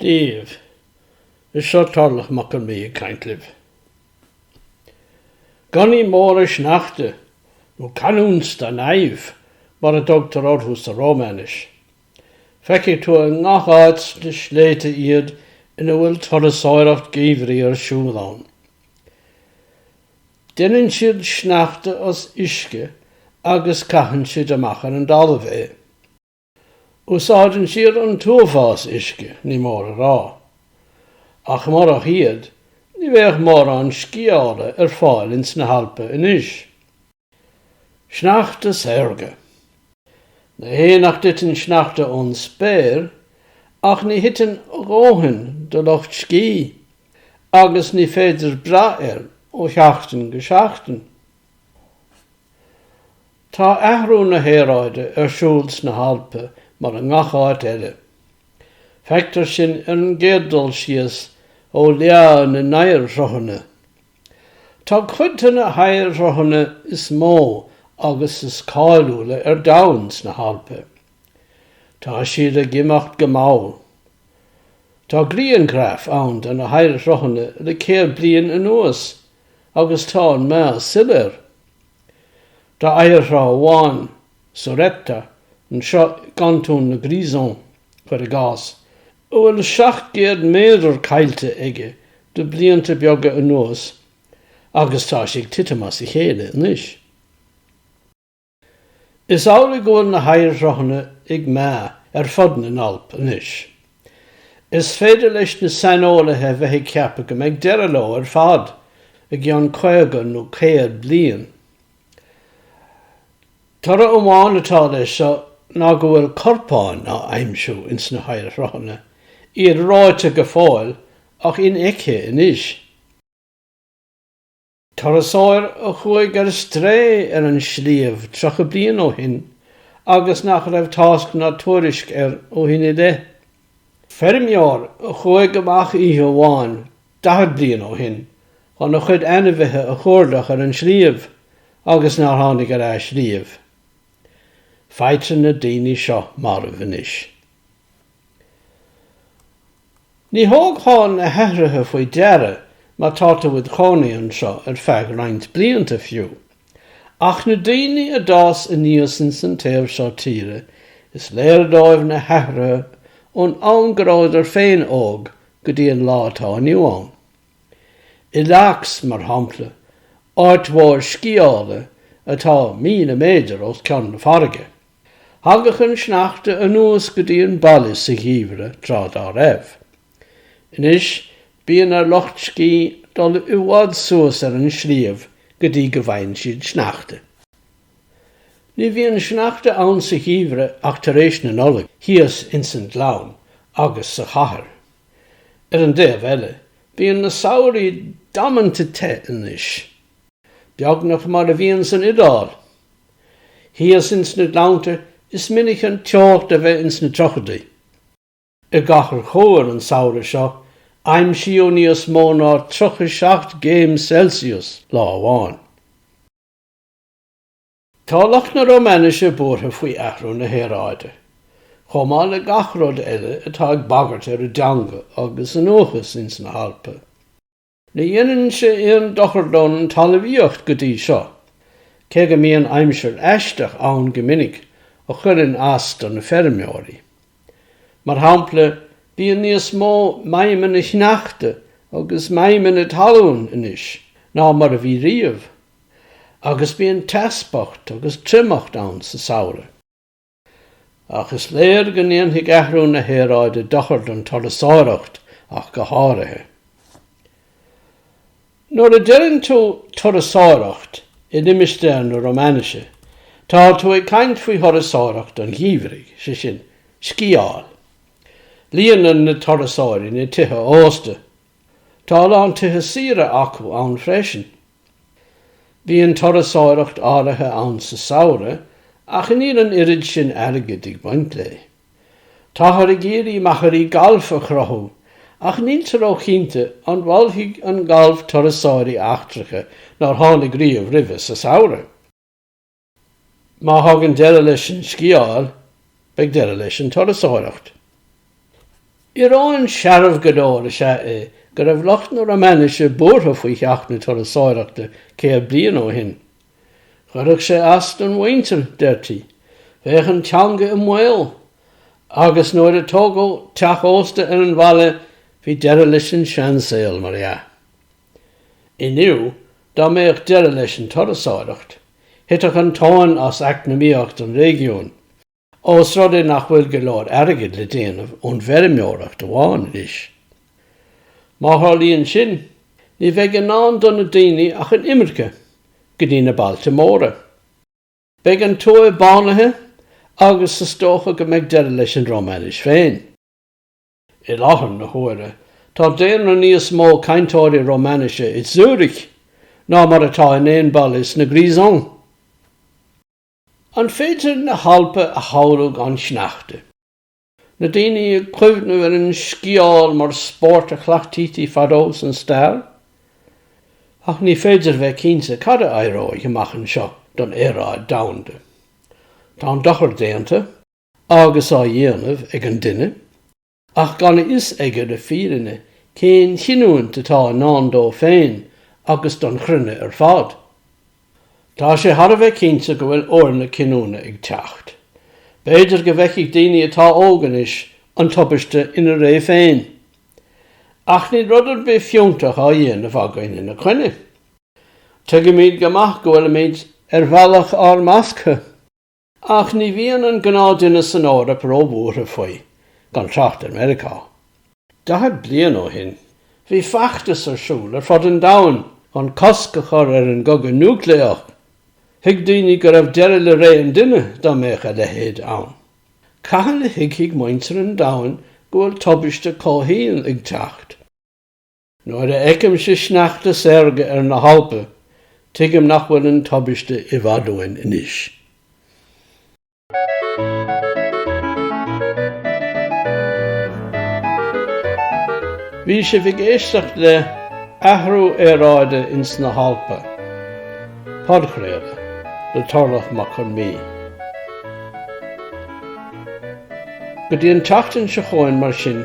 díobh. Is seo Tarlach Mac Con Midhe ag caint libh. Gunnaí móra sneachta, nó canuns da naiv mar a dtugtar orthu sa Rómainis. Feicfidh tú i ngach áit sna sléibhte iad ina bhfuil turasóireacht geimhridh ar siúl ann. Deineann siad sneachta as uisce agus caitheann siad amach ar an dtalamh é. Úsáideann siad an t-uafás uisce, ní mór a rá. Ach murach iad, ní bheadh mórán sciála ar fáil ins na hAlpa anois. Sneachta saorga. Ní hé nach dtiteann sneachta ón spéir, ach ní thiteann a dhóthain do lucht scí, agus ní féidir brath air ó sheachtain go seachtain. Tá athrú na haeráide ar siúl sna hAlpa mar i ngach áit eile. Feictear sin ar an gcéad dul síos ó leá na n-oighearshruthanna. Tá cuid de na hoighearshruthanna is mó agus is cáiliúla ar domhan sna hAlpa. Tá siad ag imeacht go mall. Tá grianghraif ann de na hoighearshruthanna le céad bliain anuas agus tá an meath soiléir. Tá oighearshruth amháin, Suretta, anseo i gcantún na Grisons, cuir i gcás, a bhfuil 700 méadar caillte aige le blianta beaga anuas agus tá sé ag titim as a chéile anois. Is amhlaidh go bhfuil na hoighearshruthanna ag meath ar fud na nAlp anois. Is féidir le saineolaithe a bheith ag ceapadh go mbeidh deireadh leo ar fad i gceann caoga nó céad bliain. Toradh amháin atá leis seo ná go bhfuil corpáin á aimsiú ins na hoighearshruthanna, iad reoite go fóill ach infheicthe anois. Turasóir a chuaigh ar strae ar an sliabh 30 bliain ó shin agus nach raibh tásc ná tuairisc air ó shin i leith. Feirmeoir a chuaigh amach oíche amháin 40 bliain ó shin chun a chuid ainmhithe a chuardach ar an sliabh agus nár tháinig ar ais riamh. Faightear na daoine seo marbh anois. Ní thabharfá na hathruithe faoi deara má tá tú id chónaí anseo ar feadh roinnt blianta fiú. Ach na daoine a d'fhás aníos ins an taobh seo tíre, is léir dóibh na hathruithe ón am go rabhadar féin óg go dtí an lá atá inniu ann. I Laax, mar shampla, áit mhór sciála atá míle méadar os cionn na farraige, Thagadh an sneachta anuas go dtí an baile sa gheimhreadh tráth dá raibh. Anois bíonn ar lucht scí dul i bhfad suas ar an sliabh go dtí go bhfaigheann siad sneachta. Ní bhíonn sneachta ann sa gheimhreadh ach tar éis na Nollag thíos ins an gleann agus sa chathair. Ar an dtaobh eile bíonn na samhraí damanta te anois. Beagnach mar a bhíonn san Iodáil thíos ins na gleannta is minic an teocht a bheith ins na tríochadaí. I gCathair Chóir an samhradh seo aimsíodh níos mó ná 37 gcéim Celsius lá amháin. Tá lucht na Romainise buartha faoi athrú na haeráide, chomh maith le gach rud eile atá ag bagairt ar a dteanga agus a ndúchas ins na hAlpa. Ní dhéanann sé aon dochar don talmhaíocht go dtí seo, cé go mbíonn aimsir aisteach ann go minic a chuireann as do na feirmeoirí. Mar shampla bíonn níos mó maidhmeanna shneachta agus maidhmeanna talún anois ná mar a bhí riamh, agus bíonn teaspach agus triomacht ann sa samhradh. Ach is léir go ndéanfaidh athrú na haeráide dochar don turasóireacht ach go háirithe. Nuair a deireann tú 'turasóireacht' i limistéar na Romainise tá tú ag caint faoi thurasóireacht an gheimhridh, sé sin, sciáil. Líonann na turasóirí na tithe ósta. Tá a lán tithe saoire acu ann freisin. Bíonn turasóireacht áirithe ann sa samhradh ach níl an oiread sin airgid ag baint léi. Táthar ag iarraidh machairí gailf a chruthú ach níltear róchinnte an meallfaidh an galf turasóirí eachtracha nár tháinig riamh roimhe sa samhradh. Má thagann deireadh leis an sciáil, beidh deireadh leis an turasóireacht. Íoróin searbh go leor is ea é go raibh lucht na Romainise buartha faoi theacht na turasóireachta céad bliain ó shin. Chuirfeadh sé as don mhuintir, deirtí. Bheadh an teanga i mbaol. Agus nuair a tógadh teach ósta ar an bhaile, bhí deireadh leis an seansaol, mar dhea. Inniu, dá mbeadh deireadh leis an turasóireacht, thitfeadh an tóin as eacnamaíocht an réigiúin, ós rud é nach bhfuil go leor airgid le déanamh ón bhfeirmeoireacht amháin arís. Má tharlaíonn sin, ní bheidh i ndán do na daoine ach an imirce go dtí na bailte móra. Beidh an tuaith bánaithe agus is dócha go mbeidh deireadh leis an Rómainis féin. I láthair na huaire tá daonra níos mó cainteoirí Romainise i Zürich ná mar atá in aon baile sna Grisons. An féidir na hAlpa a shamhlú gan sneachta? Na daoine ag cuimhneamh ar an sciáil mar spórt a chleachtaítí fadó san stair? Ach ní féidir bheith cinnte cad a éireoidh amach anseo don aeráid domhanda. Tá an dochar déanta. agus á dhéanamh ag an duine, ach gan a fhios aige le fírinne cén chinniúint atá i ndán dó féin agus don chruinne ar fad. Tá sé thar a bheith cinnte go bhfuil uair na cinniúna ag teacht. B'fhéidir go bhfeicfidh daoine atá óg anois an tubaiste ina ré féin. Ach níl rud ar bith fiúntach á dhéanamh againn ina coinne. Tuigimid go maith go bhfuilimid ar bhealach ár mbasctha. Ach ní bhíonn an gnáthdhuine san Eoraip róbhuartha faoi, gan trácht ar Meiriceá. Daichead bliain ó shin bhí feachtas ar siúl ar fud an domhain chun cosc a chur ar an gcogadh núicléach. Thuig daoine go raibh deireadh le ré an duine dá mbeadh a leithéid ann. Cathain a thuigfidh muintir an domhain go bhfuil tubaiste comhshaoil ag teacht? Nuair a fheicimse sneachta saorga ar na hAlpa, tuigim nach bhfuil an tubaiste i bhfad uainn anois. Bhí sibh ag éisteacht le Athrú Aeráide ins na hAlpa, podchraoladh le Torlach Mac Con Midhe. Go dtí an tseachtain seo chugainn mar sin.